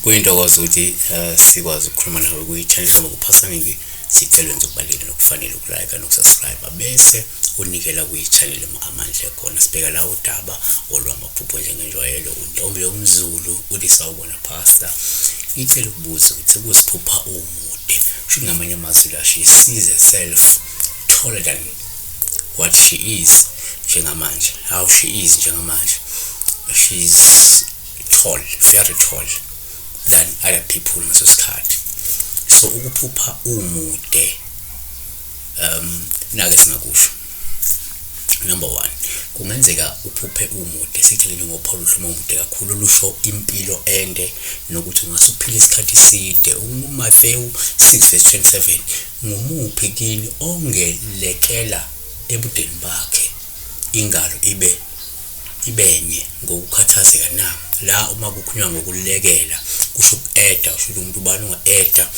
kuyintokozo ukuthi eh, sikwazi ukukhuluma nawe kuyi-channel ngoba kuphasa ngibi sicela nje ukubalulekile nokufanele ukulike nokusubscribe bese unikela kuyi-channel amandla ekhona sibheka la udaba olwamaphupho njengenjwayelo untombi yomzulu ulisa ubona Pastor ngicela ukubuza ukuthi ukuziphupha umude kusho ngamanye amazwi la she sees herself taller than what she is njengamanje how she is njengamanje she is tall very tall than other people ngaso sikhathi so ukuphupha umude um nake singakusho number one kungenzeka uphuphe umude sitheleni ngopholo uhluma umude kakhulu lusho impilo ende nokuthi ungase uphile isikhathi side umathewu 6 verse 27 ngumuphi kini ongelekela ebudeni bakhe ingalo ibe ibenye ngokukhathazeka na la uma kukhulunywa ngokulekela kusho uku-eda usho ukuthi umuntu ubani unga-eda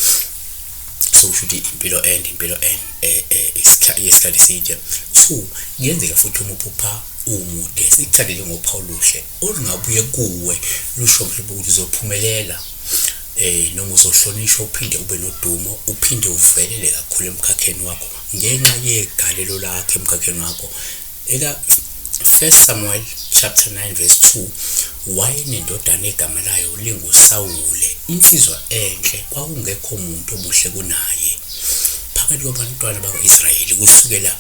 so kusho ukuthi impilo ende impilo ende eh, eh, isikhathi side so kuyenzeka futhi uma uphupha umude sikuthathe njengophawu luhle olungabuye kuwe lusho mhlawumbe ukuthi uzophumelela eh noma uzohlonishwa uphinde ube nodumo uphinde uvelele kakhulu emkhakheni wakho ngenxa yegalelo lakhe emkhakheni wakho Eka 1 Samuel chapter 9 verse 2 wayenendodana egama layo linguSawule insizwa enhle kwakungekho muntu omuhle kunaye phakathi kwabantwana bakwa-Israyeli kusukela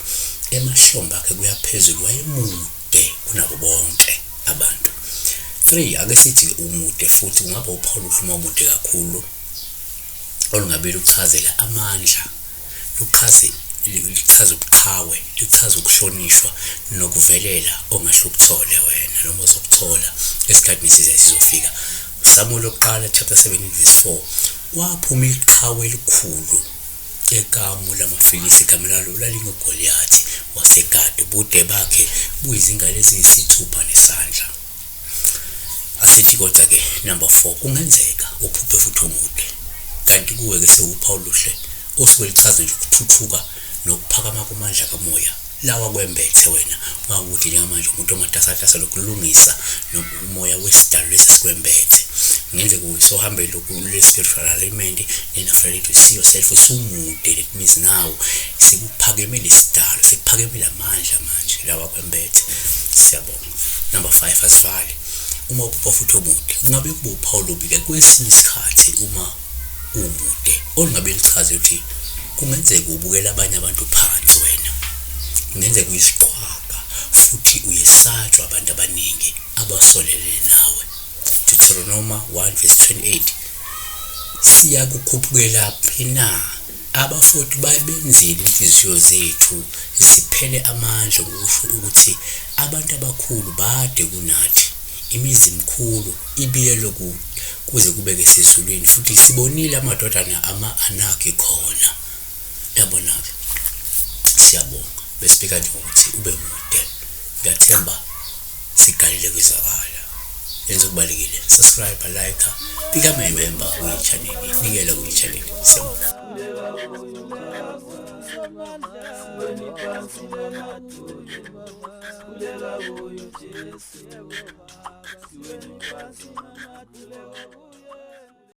emahlombe akhe kuyaphezulu wayemude kunabo bonke abantu 3 ake sithi-ke umude futhi kungaba uphawu luhluma umude kakhulu olungabili ukuchazela amandla luchaze lichaza ubuqhawe lichaza ukuhlonishwa nokuvelela ongahle ukuthole wena noma uzokuthola esikhathini esizayo sizofika usamulo oqala chapter 17 verse 4 kwaphuma iqhawe elikhulu ekamu lamafilisi igama lalo lalingugoliyathi wasegadi ubude bakhe buyizingalo eziyisithupha nesandla asithi kodwa ke number 4 kungenzeka uphuphe futhi umude kanti kuwe ke sewupha oluhle osuke lichaza nje ukuthuthuka nokuphakama komandla kamoya lawa kwembethe wena mawukuthi njengamanje umuntu omatasatasa lokulungisa nomoya wesidalo lesi sikwembethe ngenze kuwe sohambe lokulespiritual alignment then after that you see yourself usumude that means now sikuphakeme lesidalo sikuphakeme lamandla manje lawa kwembethe siyabonga Number 5 asivale uma uphupha futhi omude kungabe kube uphawu lobike kwesinye isikhathi uma umude olungabe lichaze ukuthi kungenzeka ubukela abanye abantu phansi wena kungenzeka uyisiqhwaga futhi uyesatshwa abantu abaningi abasolele nawe Deuteronoma 1 verse 28 siyakukhuphukela phina Abafowethu babenzile inhliziyo zethu ziphele amandla ngokusho ukuthi abantu abakhulu bade kunathi. Imizi mikhulu, ibiyelwe kude kuze kube kesezulwini, futhi sibonile amadodana ama-Anaki khona. Yabona-ke, siyabonga. Besibika nje ngokuthi ube mude. Ngiyathemba Sigalele kwizwakala. Yenza okubalekile. Subscribe, like, become a member kwi channel. Nikela kwi channel. Siyabonga. Siwenu